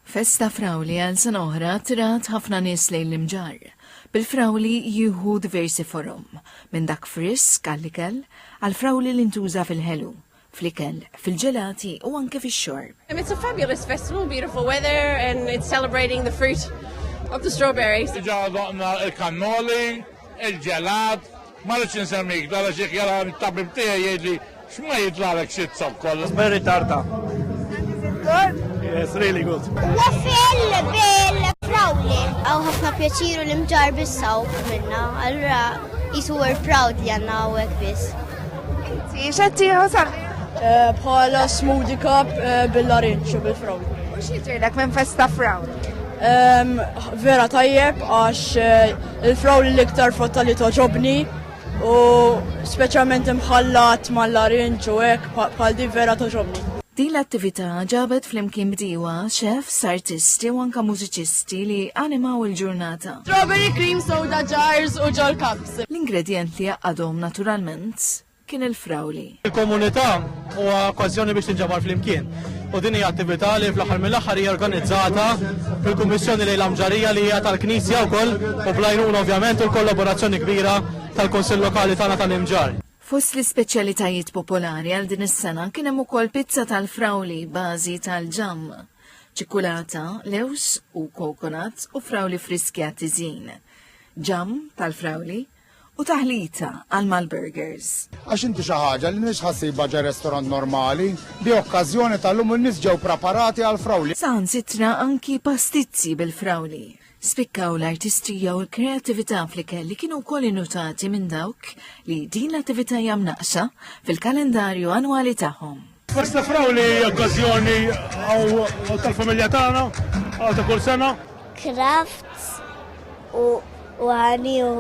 Festa Frawli għal sena oħra trat ħafna nies lejn l-Imġarr, bil-frawli jieħu diversi forom, minn dak frisk għall-ikel, għall-frawli li ntuża fil-ħelu, fl-ikel, fil-ġelati u anke fix-xorb. It's a fabulous festival, beautiful weather and it's celebrating the fruit of the strawberry. Ġa daqna il-kannoli, il-ġelat, Ma rridx insemmik, dala xiħ jara t-tabib tiegħi jgħidli, x'ma jitlagħlek xi zokkol. It's very tarta. And is it good? Yes, really good. Waffle bil frawli. Għaw ħafna pjaċiru li mġar bissaw minna, allura jisu we're proud li għanna għawek bis. Inti, xetti ħasal? Eh, bħala smoothie cup eh, bil-larinċu bil-frawli. U xieġirlek minn festa frawli? Ehm, vera tajjeb għax eh, Il-frawl hi l-iktar frotta li togħġobni u speċjalment imħallat mal-larinġ u hekk bħal din vera togħġobni. Din l-attività ġabet flimkien bdiewa, chefs, artisti u anke mużiċisti li animaw il-ġurnata. Strawberry cream soda jars u ġol-cups. L-ingredjenti jgħaqqadhom naturalment. kien il-frawli. Il-komunità huwa okkażjoni biex tinġabar flimkien. U din hija attività li fl-aħħar mill-aħħar hija organizzata fil-Kummissjoni lejn l-Amġarija li hija tal-Knisja wkoll u bl-għajnuna ovvjament u l-kollaborazzjoni kbira tal-Kunsill Lokali tagħna tal-Imġarr. Fost l-ispeċjalitajiet popolari għal din is-sena kien hemm ukoll pizza tal-frawli bażi tal-ġamm, ċikkulata, lewż u kokonat u frawli friski għat-tiżjin. Ġamm tal-frawli, u taħlita għal mal-burgers. Għax inti xi ħaġa li mhix ħassibha ġa restorant normali, bi okkażjoni tal-lum in-nies ġew praparati għal frawli. Saħansitra anki pastizzi bil-frawli spikkaw l-artistrija u l-kreatività fl-ikel li kienu wkoll innutati minn dawk li din l-attività jam naqsa fil-kalendarju annwali tagħhom. Biex nifraw li okkazjoni għaw tal-familja tagħna għaw ta' kull sena. Crafts u għaniħu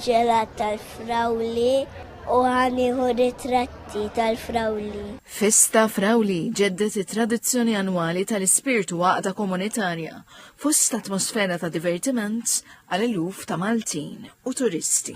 ġelat tal-frawli u għaniħu ritratti tal-frawli. Festa Frawli ġeddet it-tradizzjoni annwali tal-ispirtu għaqda komunitarja fost atmosfera ta' divertiment għal eluf ta' Maltin u turisti.